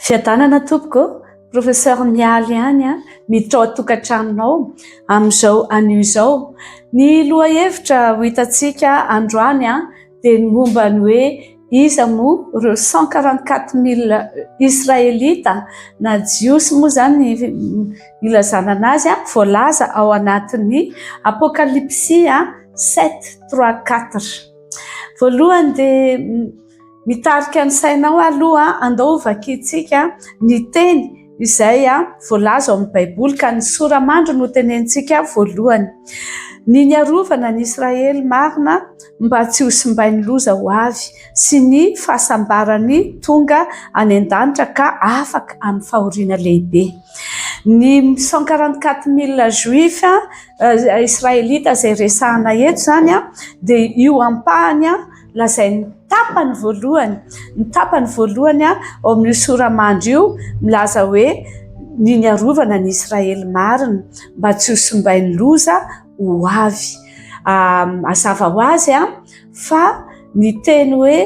Fiadanana tompoko, professeur Mialy ihany an, miditra ao an-tokantranonao amin'izao anio izao. Ny lohahevitra ho hitantsika androany dia ny momba ny hoe iza moa ireo cent quarante quatre mille israelita na jiosy moa izany ilazana an'azy, voalaza ao anatin'ny apokalypsy sept trois quatre. Voalohany dia Mitarika ny sainao aloha, andao ho vakintsika ny teny izay voalaza ao amin'ny Baiboly ka ny sora-mandry no tenentsika voalohany. Ny niarovana ny Israely marina mba tsy ho simbain'ny loza ho avy sy ny fahasambarany tonga any an-danitra ka afaka amin'ny fahoriana lehibe. Ny cent quarante quatre mille juifs Israelita izay resahina eto izany dia io ampahany. Lazain'ny tapany voalohany, ny tapany voalohany ao amin'io sora-mandry io milaza hoe ny niarovana an'i Israely marina mba tsy ho simbain'ny loza ho avy. Mazava ho azy fa ny teny hoe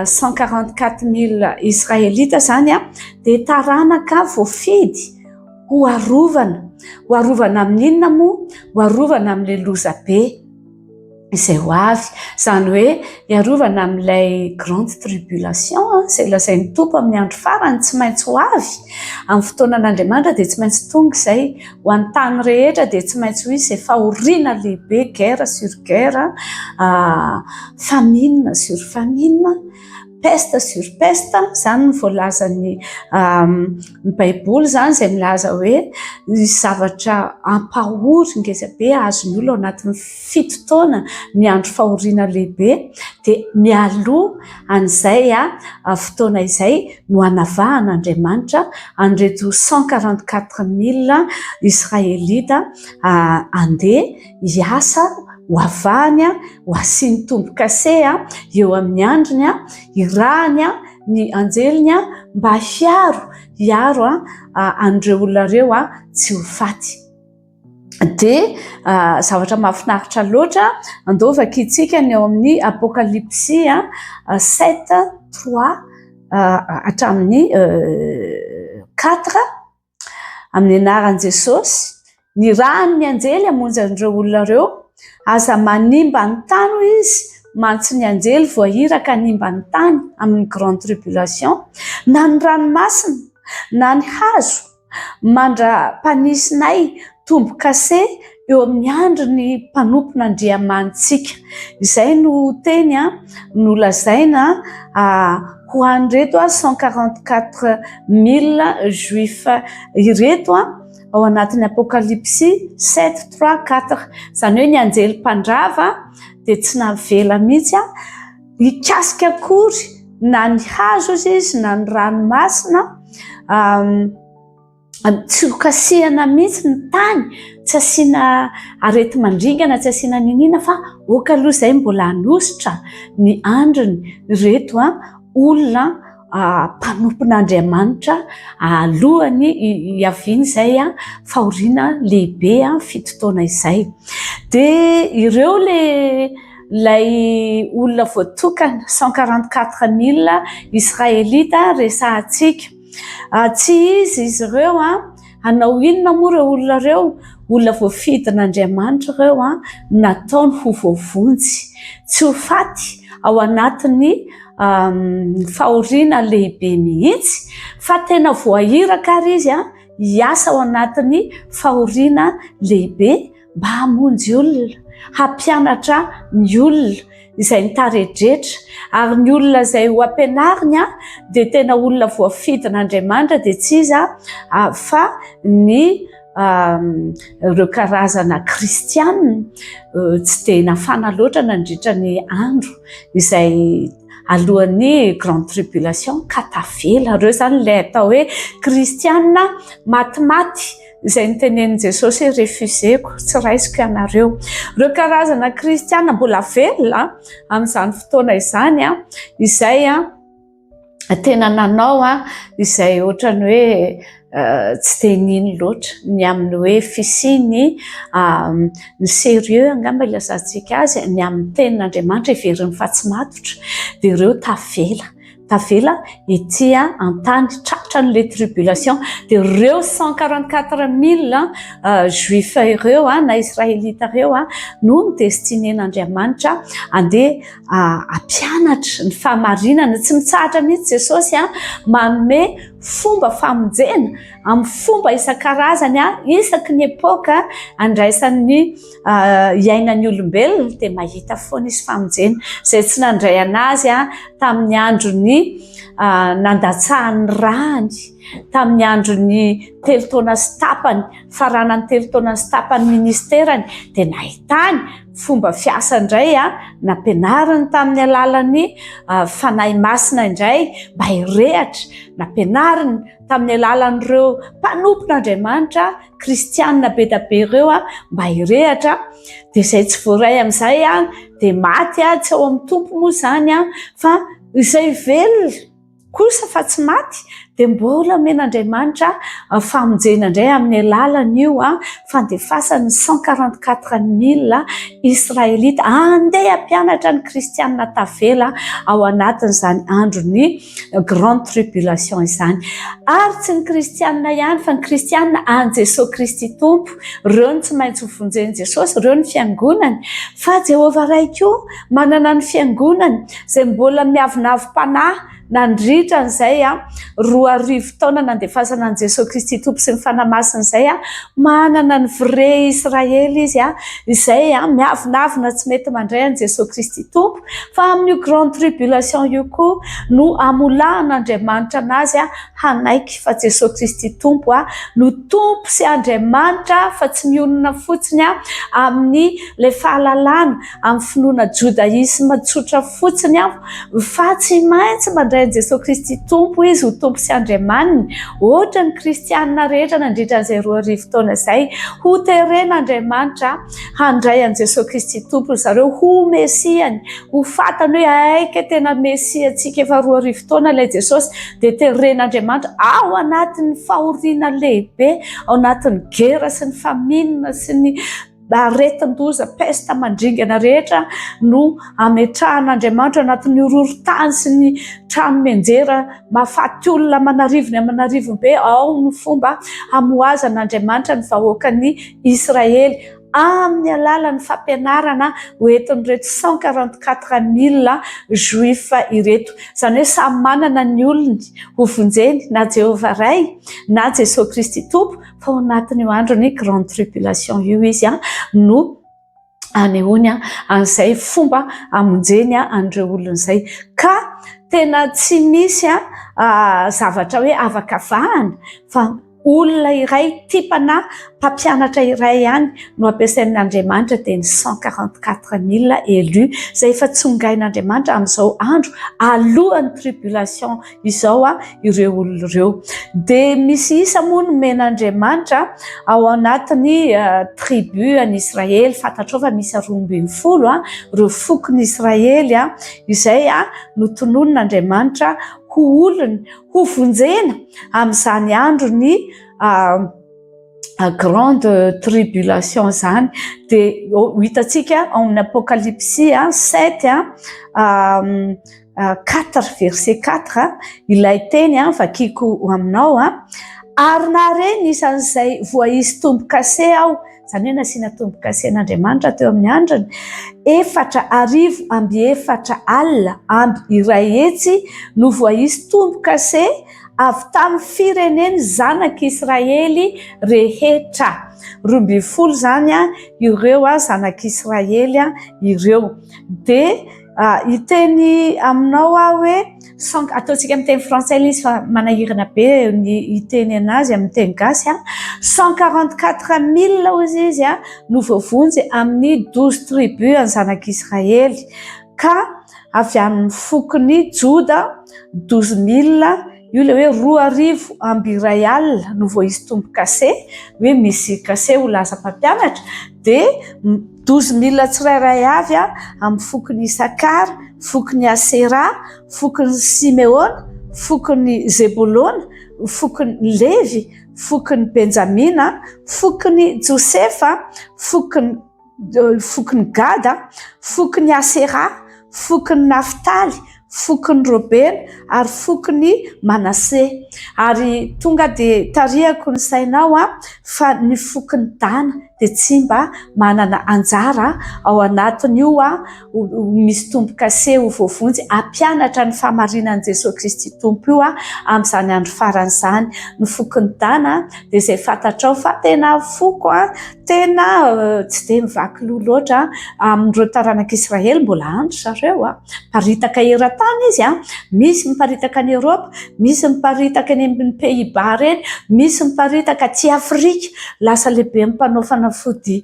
cent quarante quatre mille Israelita izany dia taranaka voafidy ho arovana. Ho arovana amin'inona moa? Ho arovana amin'ilay loza be. izay ho avy. Izany hoe hiarovana amin'ilay grande tribulation izay lazain'ny Tompo amin'ny andro farany tsy maintsy ho avy. Amin'ny fotoanan'Andriamanitra dia tsy maintsy tonga izay. Ho an'ny tany rehetra dia tsy maintsy ho izy izay fahoriana lehibe, guerre sur guerre, famine sur famine, peste sur peste, izany no voalazan'ny Ny baiboly izany izay milaza hoe ny zavatra ampahory ngeza be azon'ny olona ao anatin'ny fito taona ny andro fahoriana lehibe dia mialoha an'izay fotoana izay no anavahan'Andriamanitra an'ireto cent quarante quatre mille israelita handeha hiasa ho avahany ho asiany tombo-kase eo amin'ny andriny hirahany ny anjeliny mba hiaro hiaro an'ireo olona ireo tsy ho faty dia zavatra mahafinaritra loatra andao vakintsika ny eo amin'ny apokalypsy sept trois hatramin'ny quatre Amin'ny anaran'i Jesosy, ny ran'ny anjely hamonjy an'ireo olona ireo, aza manimba ny tany hoy izy, mantsy ny anjely voahiraka hanimba ny tany amin'ny grande tribulation, na ny ranomasina, na ny hazo, mandra-panisinay tombo-kase, eo amin'ny andry ny mpanompon' Andriamanitsika. Izay no teny nolazaina ho an'ireto cent quarante quatre mille juifs ireto ao anatin'ny Apokalypsy sept trois quatre. Izany hoe ny anjely mpandrava dia tsy navela mihitsy hikasika akory na ny hazo izy na ny ranomasina. tsy ho kasihana mihitsy ny tany, tsy asiana areti-mandringana, tsy asiana niniana fa ok aloha izay mbola hanositra ny andriny ireto olona mpanompon'Andriamanitra alohan'ny hiaviany izay fahoriana lehibe fito taona izay. Dia ireo ilay olona voatokana cent quarante quatre mille Israelita resahantsika. Tsy izy izy ireo an! Hanao inona moa ireo olona ireo? Olona voafidin'Andriamanitra ireo an! Nataony ho voavonjy, tsy ho faty ao anatin'ny fahoriana lehibe mihitsy, fa tena voahiraka ary izy hiasa ao anatin'ny fahoriana lehibe mba hamonjy olona, hampianatra ny olona izay nitaredretra ary ny olona izay ho ampianariny dia tena olona voafidin'Andriamanitra dia tsy iza fa ny ireo karazana kristiana tsy dia nafana loatra nandritra ny andro izay alohan'ny grande tribulation ka tavela ireo izany ilay atao hoe kristiana matimaty izay notenenin'i Jesosy hoe refuseko, tsy raisiko ianareo. Ireo karazana kristiana mbola velona amin'izany fotoana izany, izay tena nanao izay ohatrany hoe euh, tsy dia nino loatra ny amin'ny hoe fisiany euh, ny sérieux angamba ilazantsika azy ny amin'ny tenin'Andriamanitra heverin'ny fa tsy matotra, dia ireo tavela. tavela ety an-tany tratra an'ilay tribulation dia ireo cent quarante quatre mille juifs ireo na israelita ireo no destiné-n'Andriamanitra handeha hampianatra ny fahamarinana tsy mitsahatra mihitsy Jesosy a manome fomba famonjena amin'ny fomba isan-karazany isaky ny epoka andraisan'ny iainan'ny olombelona dia mahita foana izy famonjena izay tsy nandray an'azy a tamin'ny andron'ny nandatsahan'ny rany tamin'ny andron'ny telo taona sy tapany faranany telo taona sy tapany ministerany dia nahitany fomba fiasa indray a nampianariny tamin'ny alalan'ny fanahy masina indray mba hirehatra nampianariny tamin'ny alalan'ireo mpanompon'andriamanitra kristianina be dia be ireo mba hirehatra dia izay tsy voaray amin'izay dia maty tsy ao amin'ny tompo moa izany fa izay velona kosa fa tsy maty dia mbola omen'Andriamanitra famonjena indray amin'ny alalan'io fandefasany ny cent quarante quatre mille israelita andeha hampianatra ny kristianina tavela ao anatin'izany andron'ny Grande Tribulation izany. Ary tsy ny kristianina ihany fa ny kristianina an'i Jesoa Kristy Tompo, ireo no tsy maintsy ho vonjen'i Jesosy, ireo ny fiangonany. Fa Jehovah Ray koa manana ny fiangonany izay mbola miavonavom-panahy nandritra an'izay roa arivo taona nandefasana an'i Jesoa Kristy Tompo sy ny Fanahy Masina izay. Manana ny vrai Israely Izy izay miavonavona tsy mety mandray an'i Jesoa Kristy Tompo. Fa amin'io grande tribulation io koa no hamolahan'Andriamanitra anazy hanaiky fa Jesosy Kristy Tompo no Tompo sy Andriamanitra fa tsy mionona fotsiny amin'ny ilay fahalalana amin'ny finoana jodaisme tsotra fotsiny fa tsy maintsy mandray an'i Jesosy Kristy Tompo izy ho Tompo sy Andriamaniny ohatran'ny kristiana rehetra nandritra an'izay roa arivo taona izay hoteren'Andriamanitra Handray an'i Jesoa Kristy Tompo ry zareo ho Mesiany, ho fantany hoe aika tena Mesiantsika. Efa roa arivo taona ilay Jesosy, dia teren'Andriamanitra ao anatin'ny fahoriana lehibe, ao anatin'ny gera sy ny famine sy ny aretin-doza pesta mandringana rehetra no ametrahan'Andriamanitra anatin'ny horohorontany sy ny trano menjera mahafaty olona aman'arivony aman'arivony be. Ao ny fomba hamohazan'Andriamanitra ny vahoakany. Israely amin'ny alalan'ny fampianarana ho entin'ireto 144 mille Juifs ireto. Izany hoe samy manana ny olony ho vonjeny na Jehovah Ray na Jesoa Kristy Tompo fa ao anatin'io andron'ny Grande Tribulation io izy no anehoany an'izay fomba amonjeny an'ireo olona izay. Ka tena tsy misy zavatra hoe afaka vahana fa olona iray tipana mpampianatra iray ihany no ampiasain'ny Andriamanitra dia ny 144000 élus izay efa tsongain'Andriamanitra amin'izao andro alohan'ny tribulation izao ireo olona ireo. Dia misy isa moa nomen'Andriamanitra ao anatin'ny tribu an'i Israely. Fantatrao fa misy roa ambin'ny folo ireo fokon'i Israely izay notononin'Andriamanitra ho olony, ho vonjena amin'izany andron'ny grande tribulation izany. Dia ho hitantsika ao amin'ny Apokalypsy sept. Quatre verset quatre, Ilay teny vakiko ho aminao, ary nahare ny isan'izay voaisy tombo-kase aho, izany hoe nasiana tombo-kase an'Andriamanitra teo amin'ny andriny, efatra arivo amby efatra alina amby iray hetsy no voaisy tombo-kase avy tamin'ny firenen'ny zanak'Israely rehetra. Roa ambin'ny folo izany ireo zanak'Israely ireo. Dia Ah, hiteny aminao aho hoe sans ataontsika amin'ny teny frantsay ilay izy fa manahirana be ny hiteny anazy amin'ny teny gasy an, cent quarante quatre mille hozy izy an no voavonjy amin'ny douze tribus an'ny zanak'israely ka avy amin'ny fokon'i joda douze mille io ilay hoe roa arivo amby iray alina no voaisy tombo-kase hoe misy kase ho lasa mpampianatra dia Dozy milina tsirairay avy amin'ny fokon'i Isakara, fokon'i Asera, fokon'i Simeona, fokon'i Zebolona, fokon'i Levy, fokon'i Benjamina, fokon'i Josefa, fokon'i fokon'i Gada, fokon'i Asera, fokon'i Naftaly, fokon'i Robena ary fokon'i Manase. Ary tonga dia tarihako ny sainao fa ny fokon'i Dana dia tsy mba manana anjara ao anatin'io ho misy tombo-kase ho voavonjy hampianatra ny fahamarinan'i Jesoa Kristy Tompo io amin'izany andro farany izany. Ny fokon'i Dana dia izay fantatrao fa tena foko tena tsy dia mivaky loha loatra amin'ireo taranak'i Israely, mbola andry zareo. Miparitaka eran-tany izy an, misy miparitaka any Europe, misy miparitaka any amin'ny Pays-Bas ireny, misy miparitaka aty Afrika, lasa lehibe amin'ny mpanao fanafody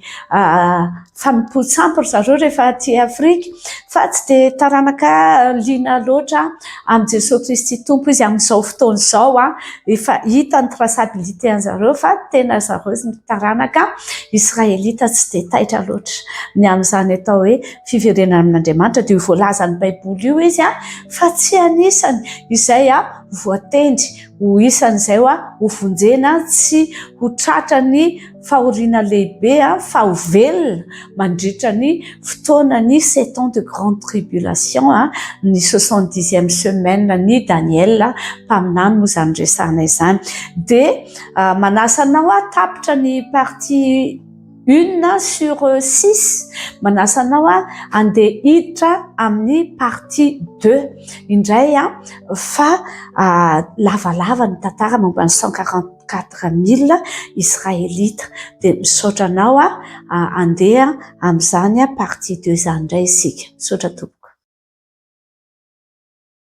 fanompoan-tsampy ry zareo rehefa aty Afrika, fa tsy dia taranaka liana loatra amin'i Jesoa Kristy Tompo izy amin'izao fotoana izao an, efa hita ny traçabilité an-drizareo fa tena ry zareo taranaka Israelita tsy dia taitra loatra ny amin'izany atao hoe Fiverenana amin'Andriamanitra dia io voalazan'ny Baiboly io izy a, fa tsy anisany izay a voatendry ho isan'izay a ho vonjena sy ho tratran'ny fahoriana lehibe a fa ho velona mandritra ny fotoanan'ny sept ans de grande tribulation a, ny soixante dixième semaine ny Daniel mpaminany moa izany resahana izany dia manasa anao aho tapitra ny partie Une sur six manasa anao handeha hiditra amin'ny partie deux indray fa lavalava ny tantara momba ny cent quarante quatre mille israelita dia misaotra anao handeha amin'izany partie deux izany indray isika. Misaotra tompoko.